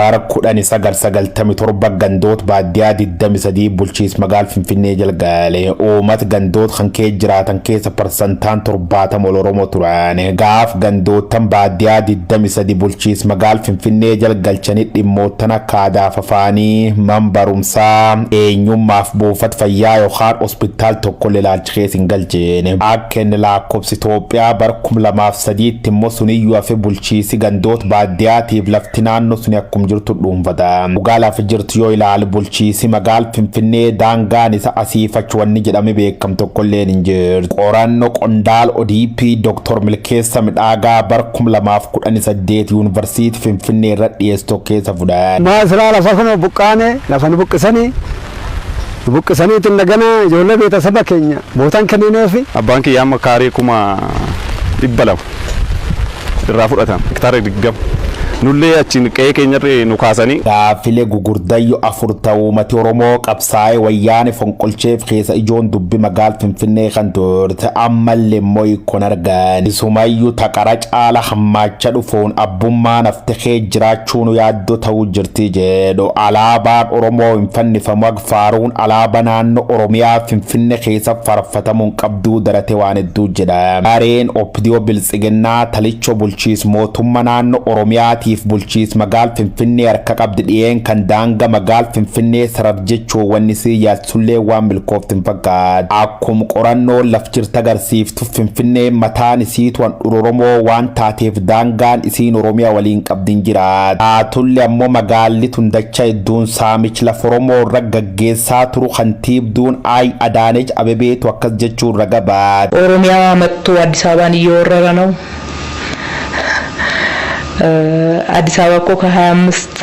Bara 1997 gandoot baaddiyaa 23 bulchiis magaal Finfinnee jalgaale. Uumat gandoot kan kee jiraatan keessa parsantaan 70 ol Oromo turan. Gaaf gandoottan baaddiyaa 23 bulchiis magaal Finfinnee jalgalchani dhimmoottan akka aadaaf afaanii, man barumsaa, eenyummaaf buufat fayyaa yokaan ospittaal tokkolle ilaalchisee kee sin galche yeene akkeen laakkobsi Itoophiyaa bara kum lamaaf sadiitti immoo suniyyuu hafe bulchiisi gandoot baaddiyaatiif lafti naannoo suni akkum jirtu dhuunfata dhugaa lafa jirtu yoo ilaali bulchiisi magaal finfinnee daangaan isa asii fachi wanni jedhame beekam tokkolleen hin jirtu qoranno qondaal ODP Dr. Milkeessa Midhaagaa bara kum lamaaf kudhanii saddeet yuunivarsiiti finfinnee irra dhiyeessu tokkeessa fudhate. Maasraa lafa kunoo buqqaane lafa nu buqqisanii nu buqqisanii itti hin dhaganaa ijoollee beetasaba keenya bootaan kennineefi. Abbaan kiyya amma kaaree kuma 200 irraa fudhatan, hektaara 20. Nullee achiin qe'ee keenyarra nu kaasanii. Gaaffile gugurdayyo afur ta uumati Oromoo qabsaa'ee wayyaane fonqolcheef keesa ijoon dubbi magaal Finfinnee kan turte ammalle immoo hiikkon argan. Isumayyu ta qara caala hammaacha dhufuun abbummaan hafte kee jiraachuu Chuunu yaaddoo ta'uu jirti jedhu alaabaan Oromoo hin fannifamu ag faaruun alaaba naannoo Oromiyaa Finfinne keessa farfatamuun qabduu darate waan hedduu jedha. Gareen Opidiyoo Biltsiginnaa talichoo bulchiis mootumma naannoo Oromiyaatiif bulchiis magaal Finfinnee harka qabdi dhiyeen kan daanga magaal Finfinnee sarar jechuun wanni isii Sulleen waan milkooftu hin fakkaatu. Akkum qorannoon laf jirta agarsiiftu Finfinneen mataan isiitu handhura Oromoo waan taateef daangaan isiin Oromiyaa waliin qabdi hin jiraatu. Taatulle ammoo magaalli tun dacha hedduun saamich laf Oromoo irra gaggeessaa turu kantiibduun I Adaanech Abebeetu akkas jechuun raga baate. Oromiyaa mattuu Addis Ababaan hin yoo warrara now Addis Ababa koo ka haya ammist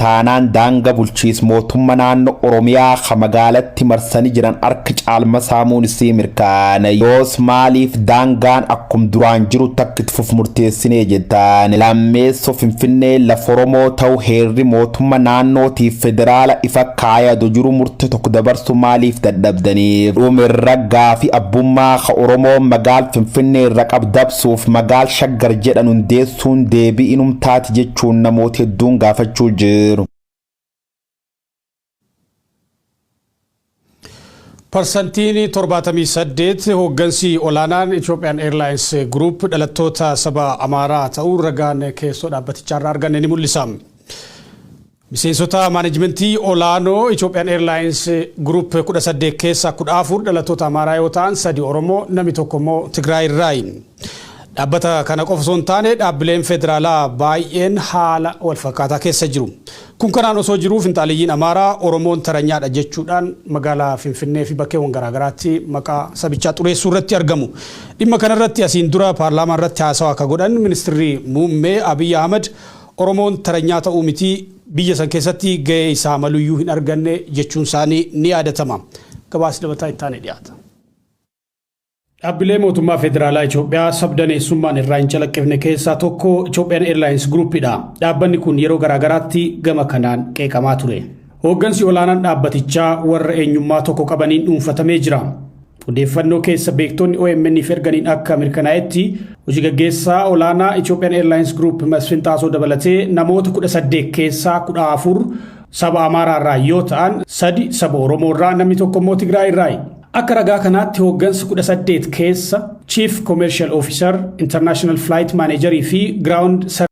taanaan daanga bulchiis mootumma naanno oromiyaa ka magaalatti marsani jiran ark caalma saamuun issii mirkaanay yoos maaliif daangaan akkum duraan jiru takk itt fuf murteessinee jettaan lammeesso finfinneen laf oromoo ta'u heerri mootumma naannoo tiif federaala ifa kaaya do jiru murte tokk dabarsu maaliif dadhabdaniif dhum irra gaafi abbummaa ka oromoon magaal finfinnee irra qab dabsuuf magaal shaggar jedhan hundeessu Sun deebii inum taati jechuun namooti hedduun gaafachuu jiru. Parsantiin 78 hooggansi olaanaan Ethiopian Airlines Group dhalattoota saba Amaaraa ta'uu ragaan keessoo dhaabbatichaarraa arganne ni mul'isa. Miseensota maanejmentii olaanoo Ethiopian Airlines Group 18 keessaa 14 dhalattoota Amaaraa yoo ta'an 3 Oromoo, namni tokko immoo Tigraay irraayi. Dhaabbata kana qofa osoo hin taane dhaabbileen federaalaa baay'een haala wal fakkaataa keessa jiru. Kun kanaan osoo jiruu finxaaleyyiin Amaaraa Oromoon taranyaadha jechuudhaan magaalaa Finfinnee fi bakkeewwan garaagaraatti maqaa sabichaa xureessuu irratti argamu. Dhimma kanarratti asiin dura paarlaamaa irratti haasawaa akka godhan ministirri muummee Abiy Ahmad Oromoon taranyaa ta'uu miti, biyya san keessatti gahee isaa maluyyuu hin arganne jechuunsaanii ni yaadatama. Gabaasi dabalataa itti aanee dhiyaata. Dhaabbilee mootummaa federaalaa Itoophiyaa sabdaneessummaan irraa hin calaqqifne keessaa tokko Ethiopian Airlines Group dha. Dhaabbanni kun yeroo garaagaraatti gama kanaan qeeqamaa ture. Hooggansi olaanaan dhaabbatichaa warra eenyummaa tokko qabaniin dhuunfatamee jira. Odeeffannoo keessa beektoonni OMN'f erganiin akka mirkanaa'etti hojii gaggeessaa olaanaa Ethiopian Airlines Group Masfin Xaasoo dabalatee namoota 18 keessaa 14 saba Amaaraa irraa yoo ta'an sadi saba Oromoo irraa namni tokko immoo Tigraay irraayi. Akka ragaa kanaatti hooggansa 18 keessa Chief Commercial Officer, International Flight Manager fi Ground